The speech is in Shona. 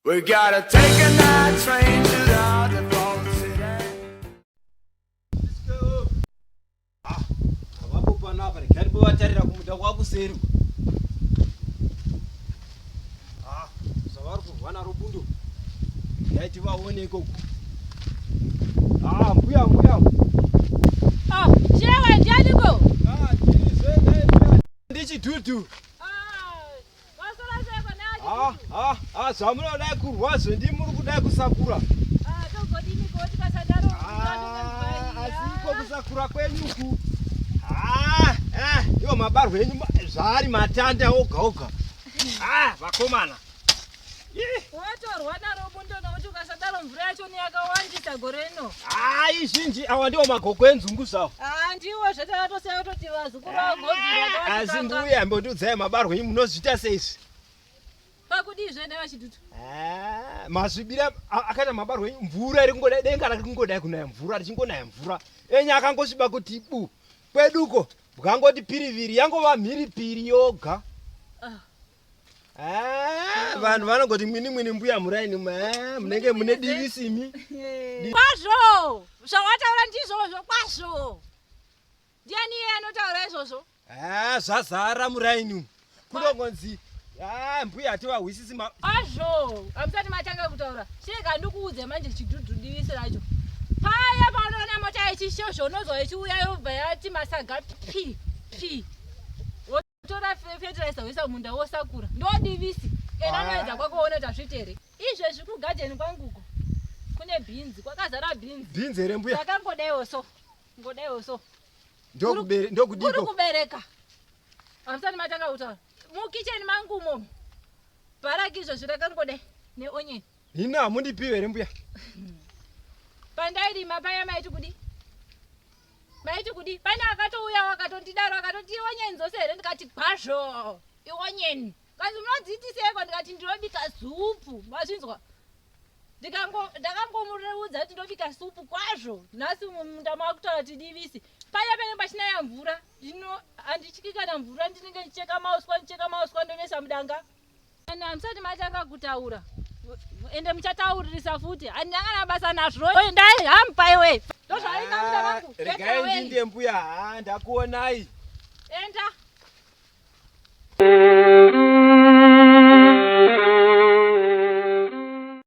We gotta take a night train to the other vatarira kumuda kwakuseri ah, zvavari kurwa naro bundo yaiti vaone ikoko ah, mbuya mbuya ah, chewa ndianiko ndichidudu Ah, ah, ah, zvamunoda kurwa zvendi muri kuda kusakura asiko kusakura kwenyuku iwo mabarwa enyu zvaari matanda oga oga vakomana Watorwa naro bundo nokuti ukasadaro mvura yacho neyakawandisa gore rino. Ah, izhinji awa ndiwo magoko enzungu zvawo. Ah, ndiwo zvatakatosiya kutoti vazukuru vagodzira. Asi mbuya ambotiudzai mabarwe imi munozviita sei izvi? Pakudii zvene vachidutu? Ah, mazvibira akaita mabarwe imi mvura iri kungoda denga rake kungoda kunaya mvura richingonaya mvura. Enya akangosviba kuti bu. Kweduko bwangoti piriviri yangova mhiripiri yoga. Ah. Ah, vanhu vanogoti mwini mwini mbuya muraini ah, munenge mune divi simi kwazvo zvawataura ndizvozvo kwazvo ndiani iye anotaura izvozvo ah, zvazara muraini umu kunongonzi ah, mbuya hativahwisisi kwazvo amusati matanga kutaura sheka ndikuudze manje chidhudhu divisi racho paya paunoona mota yechishosho unozwa ichiuya yobva yati masaga p p tora fertilizer woisa munda wosakura ndodivisi ena anoedza kwako woona kuti azviite here izvezvi kugadheni kwanguko kune bhinzi kwakazara bhinzi bhinzi here mbuya takangodaiwo so ngodaiwo so ndokudikuri kubereka hamusati matanga kutaura mukicheni mangu mo bharaki izvezvi rakangodai neonyeni hino hamundipiwe here mbuya pandairima paya maiti kudi maiti kudi pane akatouyawo akatondidaro akatoti ionyeni dzose here ndikati kwazvo ionyeni kanzi munodziitiseko ndikati ndinobika supu mazvinzwa ndakangomureudza kuti ndobika supu kwazvo nhasi mumunda makutaura kuti divisi paya pene pachinaya mvura ndino handityi kana mvura ndinenge ndicheka mauswa ndicheka mauswa ndomesa mudanga Vanhu hamusati matanga kutaura ende muchatauririsa futi handinyangana basa nazvo endai hamupa iwe ah, regai ndinde mbuya ha ndakuonai enda